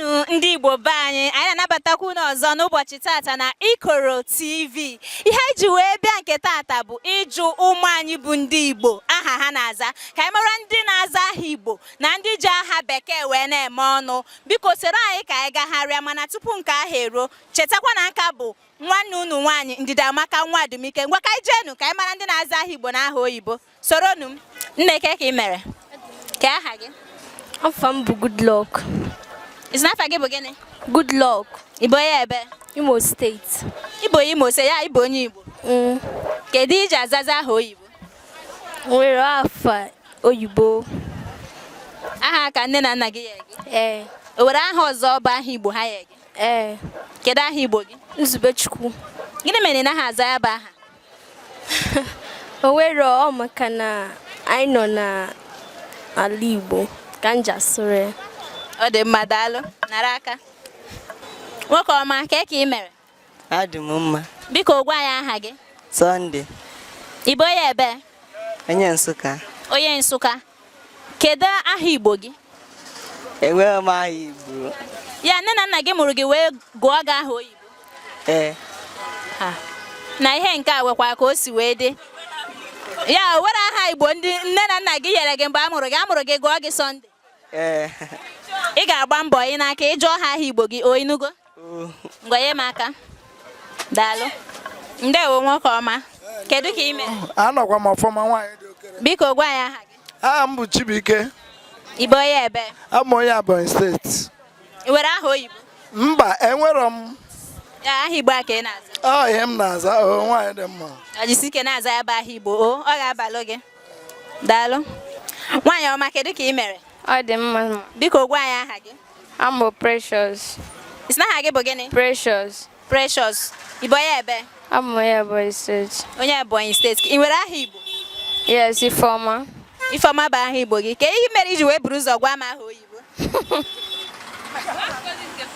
Ndewo ndị Igbo be anyị anyị na-anabatakwa unu ọzọ n'ụbọchị tata na Ikoro TV ihe anyị ji wee bịa nke tata bụ ịjụ ụmụ anyị bụ ndị Igbo aha ha na-aza ka anyị mara ndị na-aza aha Igbo na ndị ji aha bekee wee na-eme ọnụ biko soro anyị ka anyị gagharịa mana tupu nke ahụ eruo chetakwa na nka bụ nwanne unu nwaanyị Ndidiamaka nwa Adumike ngwa ka anyị jeenu ka anyị mara ndị na-aza aha Igbo na aha oyibo soronụ m nne ke ka ị mere ke aha gị afa m bụ good luck ị sị na afa gị bụ gịnị good luck ị bụ onye ebe imo steeti ị bụ onye imo steeti ya ị bụ onye igbo mm. kedu i ji azaza aha oyibo nwere afa oyibo aha ka nne na nna gị nye gị ee eh. o were aha ọzọ bụ aha igbo ha nye gị ee eh. kedu aha igbo gị nzubechukwu gịnị mere ị naha aza ya bụ aha o nwere ọ maka na anyị nọ n'ala Igbo ka m ji asụrụ ya ọ dị mma daalụ nara aka nwoke ọma ke ka ị mere adị m mma biko gwa anyị aha gị Sunday. Ị bụ onye ebe? Onye Nsụka. Onye Nsụka. Kedu aha Igbo gị? Enweghị m aha Igbo. Ya nne na nna gị mụrụ gị wee gụọ gị aha oyibo? Ee. Na ihe nke a nwekwa ka o si wee dị. Ya o nwere aha Igbo ndị nne na nna gị nyere gị mgbe a mụrụ gị, a mụrụ gị gụọ gị Sunday? Ee. Ị ga-agba mbọ ị naa ka ị jụọ ha aha Igbo gị, o ị nụgo? ngwa nye m aka daalụ ndewo nwoke ọma kedu ka ị mere anọkwa m ọfọma nwaanyị dị okere biko gwa anyị aha gị aha m bụ Chibuike ị bụ onye ebe abụ m onye Ebonyi steeti ị nwere aha oyibo mba enwero m ya aha igbo a ka ị na-aza ọ ihe m na-aza o nwaanyị dị mma o jisike na-aza ya bụ aha igbo o ọ ga-abalụ gị daalụ nwaanyị ọma kedu ka ị mere ọ dị mma biko gwa anyị aha gị I'm Precious. Is not Hage Bogene? Precious. Precious. Iboye ebe? I'm Oya Boy State. Oya Boy State. In where are you? Yes, Ifoma. Ifoma ba ahi bogi. Ke yi meri ju we bruise ogwa ma ho yibo.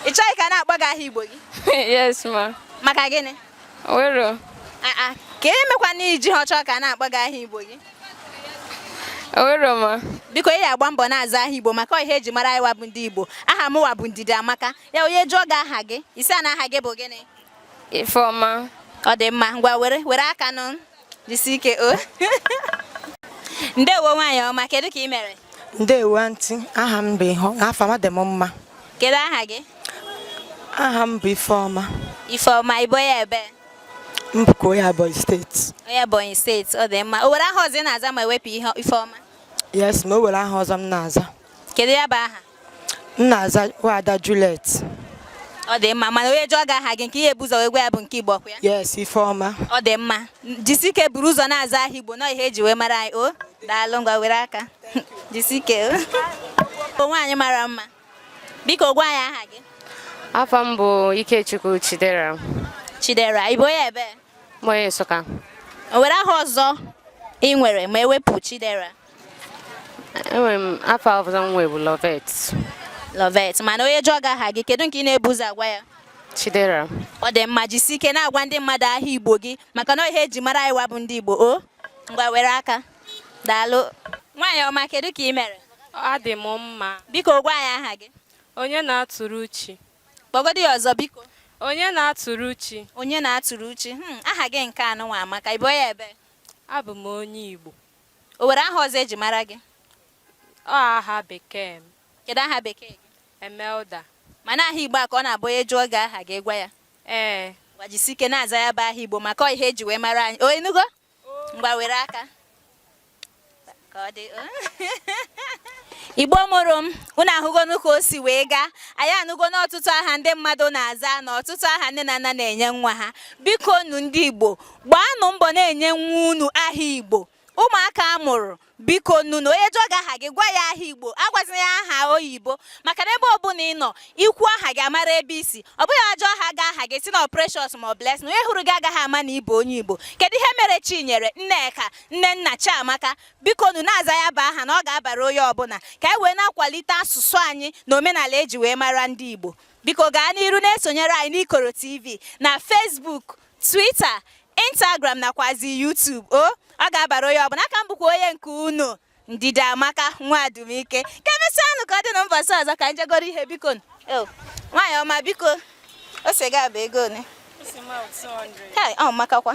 Ichai kana agbaga ahi bogi. Yes, ma. Maka gini? O wero. Aa, ke mekwanụ i jiha achọ ka a na-akpọ gị aha Igbo gị. O wero ma. Biko ị ya-agba mbọ na-aza aha Igbo maka ọ ihe e ji mara anyị wa bụ ndị Igbo. Aha m wa bụ Ndidiamaka. Ya onye jụọ gị aha gị, ị sị ya na aha gị bụ gịnị? Ifeọma. Ọ dị mma, ngwa were aka nụ. jisi ike o ndewo nwaanyị ọma kedu ka ị mere ndewo aunty aha m bụ ihe afa m adị m mma kedu aha gị aha m bụ ifeọma ifeọma ị bụ onye ebe m bụkwa onye Ebonyi steeti onye Ebonyi steeti ọ dị mma o were aha ọzọ ị na-aza ma e wepụ ihe ifeọma yes ma o were aha ọzọ m na-aza kedu ya bụ aha m na-aza nwada Juliet ọ dị mma mana onye jụọ gị aha gị nke i ya-ebu ụzọ wee gwa ya bụ nke Igbo ọ kwa ya yes Ifeọma ọ dị mma jisike buru ụzọ na-aza aha Igbo na ọ ihe eji wee mara anyị o daalụ ngwa were aka jisike o nwaanyị mara mma biko gwa anyị aha gị afa m bụ Ikechukwu Chidera Chidera ị bụ onye ebe onye Nsụka o nwere aha ọzọ ị nwere ma ewepụ Chidera enwere m afa ọzọ m nwe bụ Lovet Lovet mana onye jụọ gị aha gị kedu nke ị na-ebu ụzọ agwa ya Chidera ọ dị mma jisi ike na-agwa ndị mmadụ aha Igbo gị maka na ọ ihe eji mara anyị wa bụ ndị Igbo o ngwa were aka daalụ nwaanyị ọma kedu ka ị mere adị m mma biko gwa anyị aha gị Onyenatụrụchi kpọgodi ya ọzọ biko Onyenatụrụchi Onyenatụrụchi hmm, aha gị nke a nụnwa amaka ị bụ onye ebe abụ m onye Igbo O nwere aha ọzọ eji mara gị? Ọ aha bekee m. Kedu aha bekee gị? Emelda. Mana aha Igbo a ka ọ na-abụ onye jụọ gị aha gị ị gwa ya? Ee. Ngwa jisi ike na-aza ya bụ aha Igbo maka ọ ihe eji wee mara anyị. O ị nụgo? Ngwa were aka. Ka ọ dị. Igbo mụrụ m, unu ahụgonu ka o si wee gaa. Anyị anụgo n'ọtụtụ aha ndị mmadụ na-aza na ọtụtụ aha nne na nna na-enye nwa ha. Biko nu ndị Igbo, gbaanụ mbọ na-enye nwa unu aha Igbo ụmụaka a mụrụ biko nunu onye jụọ gị aha gị gwa ya aha igbo agwazina ya aha oyibo maka na ebe ọbụla ị nọ i kwuo aha gị a mara ebe i si ọ bụghị a jụọ aha gị aha gị si na precious ma ọ blessing onye hụrụ gị agaghị ama na ịbụ onye igbo kedu ihe mere chinyere nneka nnenna chiamaka biko nu na-aza ya bụ aha na ọ ga-abara onye ọbụla ka e wee na-akwalite asụsụ anyị na omenala eji wee mara ndị igbo biko gaa n'iru na-esonyere anyị n'ikoro tv na facebook Twitter, Instagram nakwazi YouTube o ọ ga-abara onye ọbụla aka m bụkwa onye nke unu Ndidiamaka nwa Adumike ka emesịa nụ ka ọ dị na mbọsị ọzọ ka m je goro ihe biko oh, nwaanyị ọma biko ose gị a bụ ego one ọ makakwa